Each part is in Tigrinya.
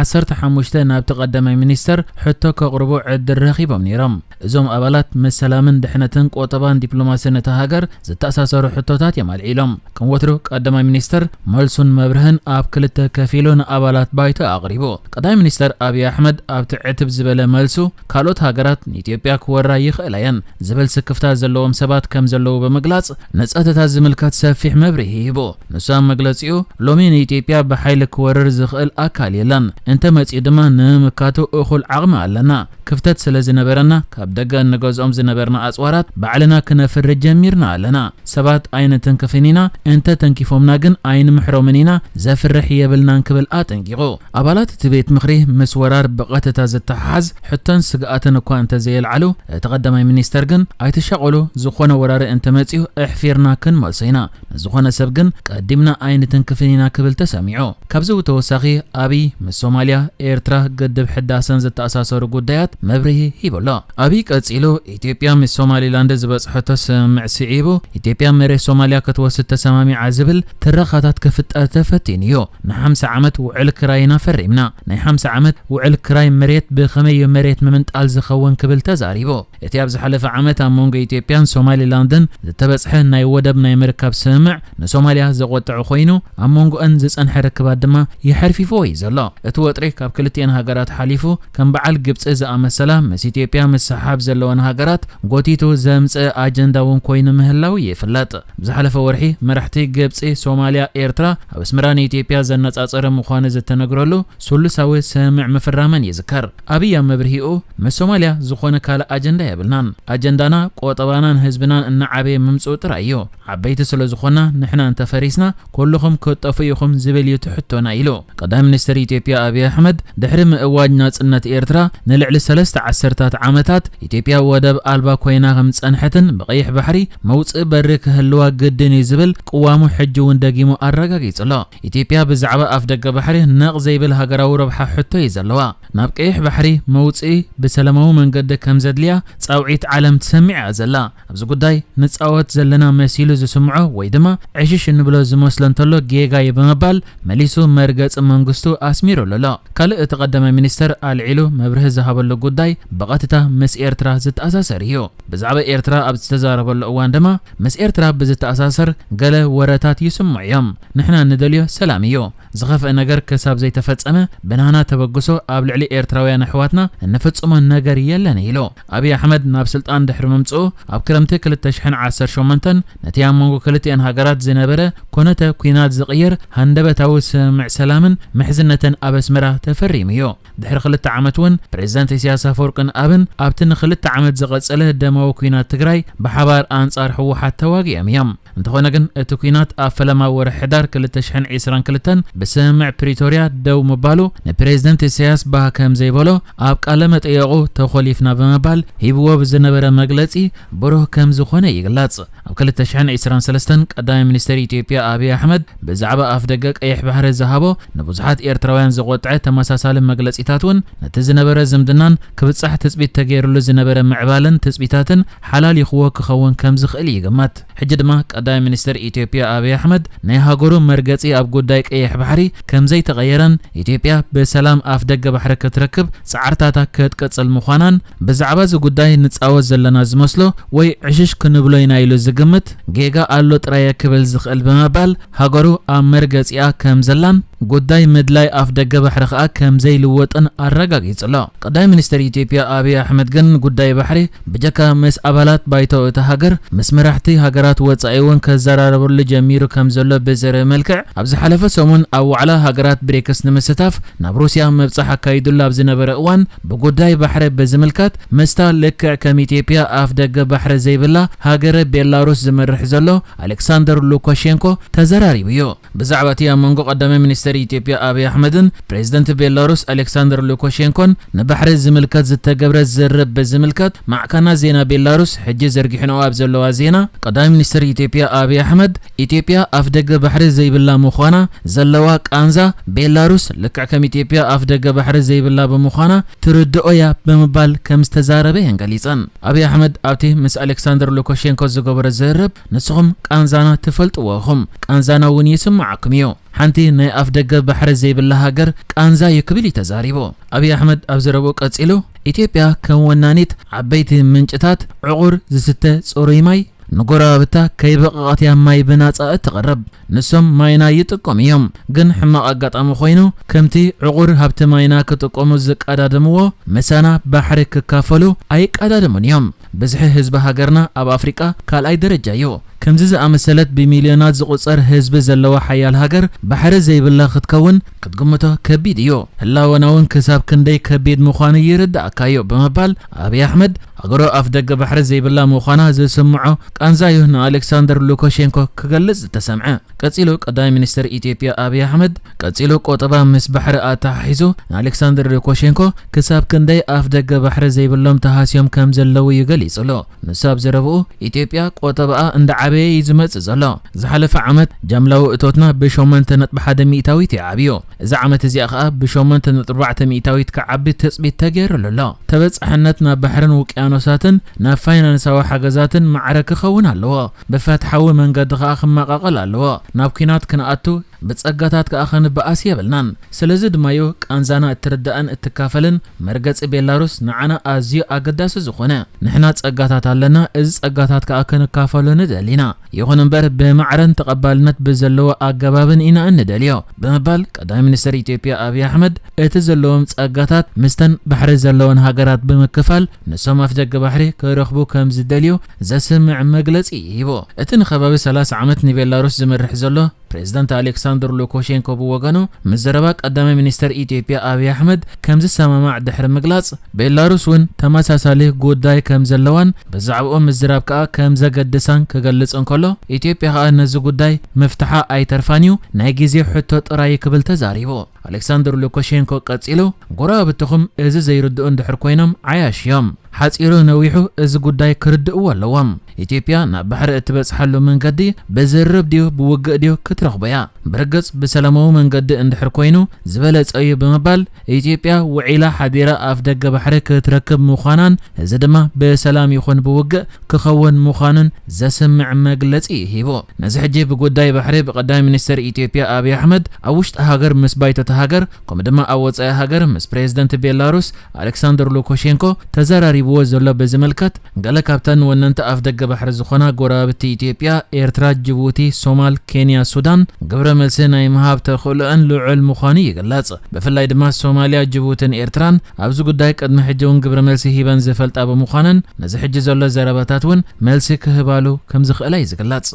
ዓሰርተ ሓሙሽተ ናብቲ ቀዳማይ ሚኒስተር ሕቶ ከቕርቡ ዕድል ረኺቦም ነይሮም። እዞም ኣባላት ምስ ሰላምን ድሕነትን ቁጠባን ዲፕሎማስን እታ ሃገር ዝተኣሳሰሩ ሕቶታት እዮም ኣልዒሎም። ከም ወትሩ ቀዳማይ ሚኒስተር መልሱን መብርህን ኣብ ክልተ ከፊሉ ንኣባላት ባይቶ ኣቕሪቡ። ቀዳማይ ሚኒስተር ኣብዪ ኣሕመድ ኣብቲ ዕትብ ዝበለ መልሱ፣ ካልኦት ሃገራት ንኢትዮጵያ ክወራ ይኽእላ እየን ዝብል ስክፍታ ዘለዎም ሰባት ከም ዘለዉ ብምግላጽ ንጸጥታ ዝምልከት ሰፊሕ መብርሂ ሂቡ። ንሱ ኣብ መግለጺኡ፣ ሎሚ ንኢትዮጵያ ብሓይሊ ክወርር ዝኽእል ኣካል የለን፣ እንተ መጺኡ ድማ ንምምካቱ እኹል ዓቕሚ ኣለና። ክፍተት ስለ ዝነበረና ካብ ደገ እንገዝኦም ዝነበርና ኣጽዋራት ባዕልና ክነፍሪ ጀሚርና ኣለና። ሰባት ኣይንትንክፍን ኢና፣ እንተ ተንኪፎምና ግን ኣይንምሕሮምን ኢና፣ ዘፍርሕ የብልናን ክብል ኣጠንቂቑ። ኣባላት እቲ ቤት ምኽሪ ምስ ወራር ብቐትታ ዝተሓሓዝ ሕቶን ስግኣትን እኳ እንተዘየልዓሉ፣ እቲ ቀዳማይ ሚኒስተር ግን ኣይትሻቐሉ ዝኾነ ወራሪ እንተመጺኡ ኣሕፊርና ክንመልሶ ኢና፣ ንዝኾነ ሰብ ግን ቀዲምና ኣይንትንክፍን ኢና ክብል ተሰሚዑ። ካብዚ ብተወሳኺ ኣብይ ምስ ሶማልያ፣ ኤርትራ፣ ግድብ ሕዳሰን ዝተኣሳሰሩ ጉዳያት መብርሂ ሂቡ ኣሎ። ኣብይ ቀጺሉ ኢትዮጵያ ምስ ሶማሊላንድ ዝበጽሐቶ ስምምዕ ስዒቡ፣ ኢትዮጵያ መሬት ሶማልያ ክትወስድ ተሰማሚዓ ዝብል ትረኻታት ክፍጠር ተፈቲኑ'ዩ። ንሓምሳ ዓመት ውዕል ክራይ ኢና ፈሪምና። ናይ ሓምሳ ዓመት ውዕል ክራይ መሬት ብኸመይ'ዩ መሬት ምምንጣል ዝኸውን ክብል ተዛሪቡ። እቲ ኣብ ዝሓለፈ ዓመት ኣብ መንጎ ኢትዮጵያን ሶማሊላንድን ዝተበጽሐ ናይ ወደብ ናይ ምርካብ ስምምዕ ንሶማልያ ዘቖጠዐ ኮይኑ፣ ኣብ መንጎኣን ዝጸንሐ ርክባት ድማ የሐርፊፍዎ'ዩ ዘሎ። እቲ ወጥሪ ካብ ክልቲኤን ሃገራት ሓሊፉ፣ ከም በዓል ግብጺ ዝኣመሰላ ምስ ኢትዮጵያ ምስሕሓብ ዘለወን ሃገራት ጎቲቱ ዘምጽእ ኣጀንዳ'ውን ኮይኑ ምህላዉ ይፍለጥ። ኣብ ዝሓለፈ ወርሒ መራሕቲ ግብጺ፣ ሶማልያ፣ ኤርትራ ኣብ ኣስመራ ንኢትዮጵያ ዘነጻጸረ ምዃኑ ዝተነግረሉ ስሉሳዊ ስምምዕ ምፍራመን ይዝከር። ኣብይ ኣብ መብርሂኡ ምስ ሶማልያ ዝኾነ ካልእ ኣጀንዳ የብልናን፣ ኣጀንዳና ቆጠባናን ህዝብናን እናዓበየ ምምጽኡ ጥራይ'ዩ። ዓበይቲ ስለ ዝኾና ንሕና እንተ ፈሪስና ኩሉኹም ክትጠፍኡ ኢኹም ዝብል እዩ እቲ ሕቶና ኢሉ። ቀዳማይ ሚኒስተር ኢትዮጵያ ኣብይ ኣሕመድ ድሕሪ ምእዋጅ ናጽነት ኤርትራ ንልዕሊ ሰለስተ ዓሰርታት ዓመታት ኢትዮጵያ ወደብ ኣልባ ኮይና ከም ዝጸንሐትን ብቀይሕ ባሕሪ መውጽኢ በሪ ክህልዋ ግድን እዩ ዝብል ቅዋሙ ሕጂ እውን ደጊሙ ኣረጋጊጹ ኣሎ። ኢትዮጵያ ብዛዕባ ኣፍደገ ባሕሪ ነቕ ዘይብል ሃገራዊ ረብሓ ሕቶ እዩ ዘለዋ። ናብ ቀይሕ ባሕሪ መውጽኢ ብሰለማዊ መንገዲ ከም ዘድልያ ጻውዒት ዓለም ትሰምዕ እያ ዘላ። ኣብዚ ጉዳይ ንጻወት ዘለና መሲሉ ዝስምዖ ወይ ድማ ዕሽሽ እንብሎ ዝመስሎ እንተሎ ጌጋ'ዩ ብምባል መሊሱ መርገጺ መንግስቱ ኣስሚሩሉ ኣሎ። ካልእ እቲ ቀዳማይ ሚኒስተር ኣልዒሉ መብርሂ ዝሃበሉ ጉዳይ ብቐጥታ ምስ ኤርትራ ዝተኣሳሰር እዩ። ብዛዕባ ኤርትራ ኣብ ዝተዛረበሉ እዋን ድማ ምስ ኤርትራ ብዝተኣሳሰር ገለ ወረታት ይስምዑ እዮም። ንሕና ንደልዮ ሰላም እዩ። ዝኸፍኤ ነገር ክሳብ ዘይተፈጸመ ብናህና ተበግሶ ኣብ ልዕሊ ኤርትራውያን ኣሕዋትና እንፍጽሞ ነገር የለን ኢሉ። ኣብይ ኣሕመድ ናብ ስልጣን ድሕሪ ምምጽኡ ኣብ ክረምቲ ክልተ ሽሕን ዓሰርተ ሸሞንተን ነቲ ኣብ መንጎ ክልቲኣን ሃገራት ዝነበረ ኩነተ ኲናት ዝቕይር ሃንደበታዊ ስምምዕ ሰላምን ምሕዝነትን ኣብ ኣስመራ ተፈሪሙ እዩ። ድሕሪ ክልተ ዓመት እውን ፕሬዝዳንት ኢሳያስ ኣፈወርቅን ኣብን ኣብቲ ንክልተ ዓመት ዝቐፀለ ደማዊ ኲናት ትግራይ ብሓባር ኣንፃር ህወሓት ተዋጊኦም እዮም። እንተኾነ ግን እቲ ኲናት ኣብ ፈለማ ወርሒ ሕዳር ክልተ ሽሕን ዒስራን ክልተን ብስምምዕ ፕሪቶርያ ደው ምባሉ ንፕሬዝደንት ኢሳያስ ባህ ከምዘይበሎ ኣብ ቃለ መጠየቑ ተኾሊፍና ብምባል ሂብዎ ብዝነበረ መግለፂ ብሩህ ከምዝኾነ ይግለፅ። ኣብ ክልተ ሽሕን ዕስራን ሰለስተን ቀዳማይ ሚኒስተር ኢትዮጵያ ኣብይ ኣሕመድ ብዛዕባ ኣፍደገ ቀይሕ ባሕሪ ዝሃቦ ንብዙሓት ኤርትራውያን ዘቖጥዐ ተመሳሳሊ መግለጺታት እውን ነቲ ዝነበረ ዝምድናን ክብጻሕ ትጽቢት ተገይርሉ ዝነበረ ምዕባለን ትጽቢታትን ሓላሊኹዎ ክኸውን ከምዝኽእል ይግመት። ሕጂ ድማ ቀዳማይ ሚኒስተር ኢትዮጵያ ኣብይ ኣሕመድ ናይ ሃገሩ መርገጺ ኣብ ጉዳይ ቀይሕ ባሕሪ ከምዘይተቐየረን ኢትዮጵያ ብሰላም ኣፍደገ ባሕሪ ክትረክብ ጻዕርታታ ክትቅጽል ምዃናን ብዛዕባ እዚ ጉዳይ ንጻወት ዘለና ዝመስሎ ወይ ዕሽሽ ክንብሎ ኢና ኢሉ ዝግምት ጌጋ ኣሎ ጥራየ ክብል ዝኽእል ብምባል ሃገሩ ኣብ መርገጺኣ ከም ዘላን ጉዳይ ምድላይ ኣፍደገ ባሕሪ ከኣ ከም ዘይልወጥን ኣረጋጊጹ ኣሎ። ቀዳማይ ሚኒስተር ኢትዮጵያ ኣብይ ኣሕመድ ግን ጉዳይ ባሕሪ ብጀካ ምስ ኣባላት ባይቶ እታ ሃገር ምስ መራሕቲ ሃገራት ወጻኢ'ውን ክዘራረበሉ ጀሚሩ ከም ዘሎ ብዘርኢ መልክዕ ኣብ ዝሓለፈ ሰሙን ኣብ ዋዕላ ሃገራት ብሪክስ ንምስታፍ ናብ ሩስያ ምብጻሕ ኣካይድሉ ኣብ ዝነበረ እዋን ብጉዳይ ባሕሪ ብዝምልከት ምስታ ልክዕ ከም ኢትዮጵያ ኣፍ ደገ ባሕሪ ዘይብላ ሃገረ ቤላሩስ ዝመርሕ ዘሎ ኣሌክሳንደር ሉካሼንኮ ተዘራሪቡ እዩ። ብዛዕባ እቲ ኣብ መንጎ ቀዳማይ ሚኒስተር ኢትዮጵያ ኣብይ ኣሕመድን ፕሬዝደንት ቤላሩስ ኣሌክሳንደር ሉካሼንኮን ንባሕሪ ዝምልከት ዝተገብረ ዝርርብ ብዝምልከት ማዕከናት ዜና ቤላሩስ ሕጂ ዘርጊሐንኦ ኣብ ዘለዋ ዜና ቀዳማይ ሚኒስተር ኢትዮጵያ ኣብይ ኣሕመድ ኢትዮጵያ ኣፍደገ ባሕሪ ዘይብላ ምዃና ዘለዋ ቃንዛ፣ ቤላሩስ ልክዕ ከም ኢትዮጵያ ኣፍደገ ባሕሪ ዘይብላ ብምዃና ትርድኦ'ያ ብምባል ከም ዝተዛረበ'የን ገሊጸን። ኣብይ ኣሕመድ ኣብቲ ምስ ኣሌክሳንደር ሉካሼንኮ ዝገበሮ ዝርርብ፣ ንስኹም ቃንዛና ትፈልጥዎ ኢኹም፣ ቃንዛና'ውን ይስምዓኩም'ዩ። ሓንቲ ናይ ኣፍደገ ባሕሪ ዘይብላ ሃገር ቃንዛ'ዩ ክብል'ዩ ተዛሪቡ። ኣብይ ኣሕመድ ኣብ ዘረብኡ ቀጺሉ፣ ኢትዮጵያ ከም ወናኒት ዓበይቲ ምንጭታት ዕቑር ዝስተ ጽሩይ ማይ፣ ንጎረባብታ ከይበቐቐት እያ ማይ ብናጻ እትቕርብ። ንሶም ማይና ይጥቀሙ እዮም፣ ግን ሕማቕ ኣጋጣሚ ኮይኑ ከምቲ ዕቑር ሃብቲ ማይና ክጥቀሙ ዝቀዳደምዎ ምሳና ባሕሪ ክካፈሉ ኣይቀዳደሙን እዮም። ብዝሒ ህዝቢ ሃገርና ኣብ ኣፍሪቃ ካልኣይ ደረጃ እዩ። ከምዚ ዝኣመሰለት ብሚልዮናት ዝቑጸር ህዝቢ ዘለዋ ሓያል ሃገር ባሕሪ ዘይብላ ክትከውን ክትግምቶ ከቢድ እዩ፣ ህላወና'ውን ክሳብ ክንደይ ከቢድ ምዃኑ ይርድኣካ'ዩ ብምባል ኣብይ ኣሕመድ ሃገሩ ኣፍደገ ባሕሪ ዘይብላ ምዃና ዝስምዖ ቃንዛ'ዩ ንኣሌክሳንደር ሉካሼንኮ ክገልጽ ዝተሰምዐ። ቀጺሉ ቀዳማይ ሚኒስተር ኢትዮጵያ ኣብይ ኣሕመድ ቀጺሉ ቁጠባ ምስ ባሕሪ ኣተሓሒዙ ንኣሌክሳንደር ሉካሼንኮ ክሳብ ክንደይ ኣፍደገ ባሕሪ ዘይብሎም ተሃስዮም ከምዘለዉ'ዩ ገሊጹሉ። ንሱ ኣብ ዘረብኡ፣ ኢትዮጵያ ቆጠባኣ እንዳዓበየ እዩ ዝመጽእ ዘሎ። ዝሓለፈ ዓመት ጃምላዊ እቶትና ብሸሞንተ ነጥቢ ሓደ ሚእታዊት እዩ ዓብዩ። እዛ ዓመት እዚኣ ከኣ ብሸሞንተ ነጥቢ ኣርባዕተ ሚእታዊት ክዓቢ ትጽቢት ተገይሩሉ ኣሎ። ተበጻሕነት ናብ ባሕርን ውቅያኖሳትን፣ ናብ ፋይናንሳዊ ሓገዛትን ማዕረ ክኸውን ኣለዎ። ብፈትሓዊ መንገዲ ከኣ ክመቓቐል ኣለዎ። ናብ ኲናት ክንኣቱ፣ ብጸጋታት ከኣ ክንበኣስ የብልናን። ስለዚ ድማ'ዩ ቃንዛና እትርዳእን እትካፈልን፣ መርገጺ ቤላሩስ ንዓና ኣዝዩ ኣገዳሲ ዝኾነ፣ ንሕና ጸጋታት ኣለና፣ እዚ ጸጋታት ከኣ ክንካፈሎ ንደሊ ኢና፣ ይኹን እምበር ብማዕረን ተቐባልነት ብዘለዎ ኣገባብን ኢና እንደልዮ ብምባል ቀዳማይ ሚኒስተር ኢትዮጵያ ኣብይ ኣሕመድ እቲ ዘለዎም ጸጋታት ምስተን ባሕሪ ዘለወን ሃገራት ብምክፋል ንሶም ኣፍደገ ባሕሪ ክረኽቡ ከምዝደልዩ ዘስምዕ መግለጺ እዩ ሂቡ። እቲ ንከባቢ ሰላሳ ዓመት ንቤላሩስ ዝመርሕ ዘሎ ፕሬዝዳንት ኣሌክሳንደር ሉኮሼንኮ ብወገኑ ምስ ዘረባ ቀዳማይ ሚኒስተር ኢትዮጵያ ኣብይ ኣሕመድ ከምዝሰማማዕ ድሕሪ ምግላጽ፣ ቤላሩስ እውን ተመሳሳሊ ጉዳይ ከምዘለዋን ብዛዕብኡ ምዝራብ ከኣ ከምዘገድሳን ክገልጽ እንከሎ፣ ኢትዮጵያ ከኣ ነዚ ጉዳይ ምፍትሓ ኣይተርፋን'ዩ፣ ናይ ግዜ ሕቶ ጥራይ'ዩ ክብል ተዛሪቡ። ኣሌክሳንደር ሉካሼንኮ ቀጺሉ፣ ጎረባብትኹም እዚ ዘይርድኡ እንድሕር ኮይኖም ዓያሹ እዮም። ሓጺሩ ነዊሑ እዚ ጉዳይ ክርድእዎ ኣለዎም። ኢትዮጵያ ናብ ባሕሪ እትበጽሓሉ መንገዲ ብዝርርብ ድዩ ብውግእ ድዩ ክትረኽቦ እያ። ብርግጽ ብሰላማዊ መንገዲ እንድሕር ኮይኑ ዝበለጸ እዩ ብምባል ኢትዮጵያ ውዒላ ሓዲራ ኣፍደገ ባሕሪ ክትረክብ ምዃናን እዚ ድማ ብሰላም ይኹን ብውግእ ክኸውን ምዃኑን ዘስምዕ መግለጺ እዩ ሂቡ። ነዚ ሕጂ ብጉዳይ ባሕሪ ብቀዳማይ ሚኒስተር ኢትዮጵያ ኣብይ ኣሕመድ ኣብ ውሽጢ ሃገር ምስ ባይቶ'ታ ሃገር ከምኡ ድማ ኣብ ወጻኢ ሃገር ምስ ፕሬዝደንት ቤላሩስ ኣሌክሳንደር ሉኮሼንኮ ተዘራሪብዎ ዘሎ ብዝምልከት ገለ ካብተን ወነንቲ ኣፍደገ ባሕሪ ዝኾና ጎረባብቲ ኢትዮጵያ ኤርትራ ጅቡቲ ሶማል ኬንያ ሱዳን ግብረ መልሲ ናይ ምሃብ ተኽእሎኣን ልዑል ምዃኑ ይግለጽ። ብፍላይ ድማ ሶማልያ ጅቡትን ኤርትራን ኣብዚ ጉዳይ ቅድሚ ሕጂ እውን ግብረ መልሲ ሂበን ዝፈልጣ ብምዃነን ነዚ ሕጂ ዘሎ ዘረባታት እውን መልሲ ክህባሉ ከም ዝኽእላ እዩ ዝግለጽ።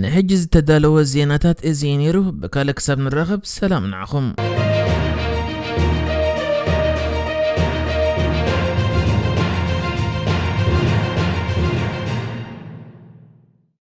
ንሕጂ ዝተዳለወ ዜናታት እዚ እዩ ነይሩ። ብካልእ ክሳብ ንራኸብ ሰላም ንዓኹም።